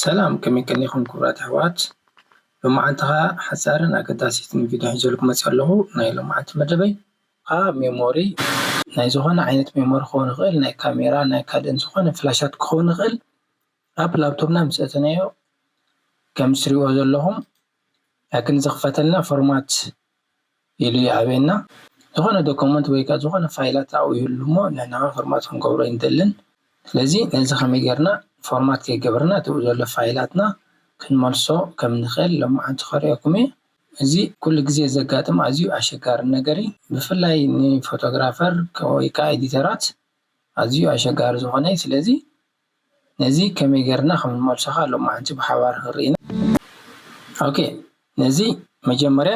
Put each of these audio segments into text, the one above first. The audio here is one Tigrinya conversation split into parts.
ሰላም ከመይ ቀኒኹም ክቡራት ኣሕዋት ሎማዓንትኻ ሓፃርን ኣገዳሲትን ቪድዮ ሒዘልኩም መፂኣ ኣለኹ ናይ ሎማዓንቲ መደበይ ኣ ሜሞሪ ናይ ዝኾነ ዓይነት ሜሞሪ ክኸውን ይኽእል ናይ ካሜራ ናይ ካልእን ዝኾነ ፍላሻት ክኸውን ይኽእል ኣብ ላብቶብና ምስ ኣእተናዮ ከም እትሪእዎ ዘለኹም ላኪን ዝኽፈተልና ፎርማት ኢሉ ይኣብየና ዝኾነ ዶኮመንት ወይ ከኣ ዝኾነ ፋይላት ኣብኡ ይህሉ እሞ ንሕና ከኣ ፎርማት ክንገብሮ ኣይንደልን ስለዚ ነዚ ከመይ ጌርና ፎርማት ከይገበርና እቲ ኣብኡ ዘሎ ፋይላትና ክንመልሶ ከም ንኽእል ሎምዓንቲ ከርእየኩም እየ እዚ ኩሉ ግዜ ዘጋጥም ኣዝዩ ኣሸጋሪ ነገር እዩ ብፍላይ ንፎቶግራፈር ወይ ከኣ ኤዲተራት ኣዝዩ ኣሸጋሪ ዝኾነ እዩ ስለዚ ነዚ ከመይ ጌርና ከም ንመልሶ ከኣ ሎማዓንቲ ብሓባር ክንርኢ ኢና ኦኬ ነዚ መጀመርያ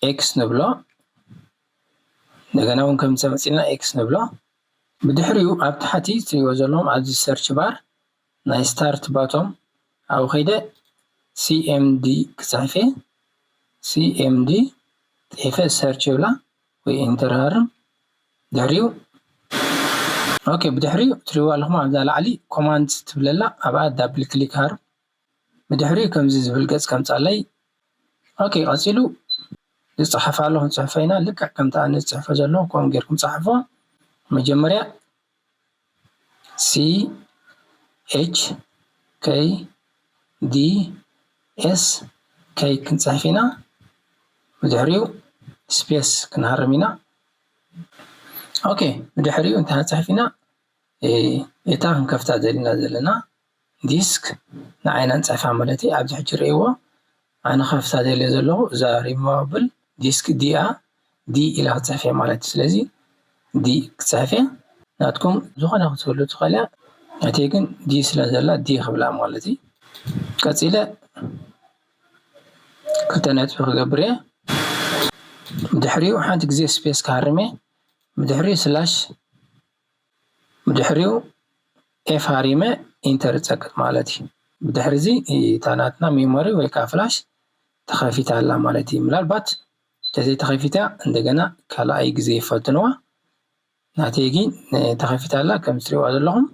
ኤክስ ንብሎ እንደገና ውን ከምዚ ኣምጺእና ኤክስ ንብሎ ብድሕሪኡ ኣብ ታሕቲ ትሪእዎ ዘለኹም ኣብዚ ሰርች ባር ናይ ስታርት ባቶም ኣብኡ ከይደ ሲኤምዲ ክጽሕፍ እየ ሲኤምዲ ጽሒፈ ሰርች ይብላ ወይ ኢንተር ሃርም ድሕሪኡ ኦኬ ብድሕሪኡ ትሪዋ ኣለኹም ኣብዛ ላዕሊ ኮማንድ ትብለላ ኣብኣ ዳብል ክሊክ ሃርም ብድሕሪኡ ከምዚ ዝብል ገጽ ከምጻለይ ኦኬ ቀጺሉ ዝጽሓፍ ኣለኹም ጽሑፈይና ልክዕ ከምቲ ኣነ ዝጽሕፎ ዘለኹ ከምኡ ጌርኩም ጻሕፎ መጀመርያ CHKDS K ክንጽሕፍ ኢና ብድሕሪኡ ስፔስ ክንሃርም ኢና ኦኬ ብድሕሪኡ እንታይ ክንጽሕፍ ኢና እታ ክንከፍታ ደሊና ዘለና ዲስክ ንዓይና ንጽሕፋ ማለት እየ ኣብዚ ሕጂ ርእይዎ ኣነ ከፍታ ደልየ ዘለኹ እዛ ሪሞቭል ዲስክ ዲ እያ ዲ ኢላ ክትጽሕፍ እያ ማለት እዩ ስለዚ ዲ ክጽሕፍ እየ ናትኩም ዝኾነ ክትህሉ ትኽእል እያ ናተይ ግን ዲ ስለ ዘላ ዲ ክብላ ማለት እዩ ቀጺለ ክልተ ነጥቢ ክገብር እየ ብድሕሪኡ ሓንቲ ግዜ ስፔስ ክሃርም እየ ብድሕሪኡ ስላሽ ብድሕሪኡ ኤፋሪመ ኢንተር ጸቅጥ ማለት እዩ። ብድሕሪ እዚ እታ ናትና ሜሞሪ ወይ ከዓ ፍላሽ ተኸፊታ ኣላ ማለት እዩ። ምናልባት እንተዘይተኸፊታ እንደገና ካልኣይ ግዜ ይፈትንዋ። ናተይ ግን ተኸፊታ ኣላ ከም እትሪእዋ ዘለኹም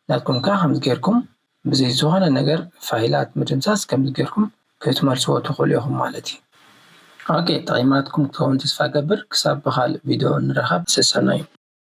ናትኩም ከዓ ከምዚ ጌርኩም ብዘይ ዝኾነ ነገር ፋይላት ምድምሳስ ከምዚ ጌርኩም ክትመልስዎ ትኽእሉ ኢኹም ማለት እዩ። ኦኬ ጠቒማትኩም ክትከውን ተስፋ እገብር ክሳብ ብኻልእ ቪድዮ ንራኸብ ሰሰናዩ።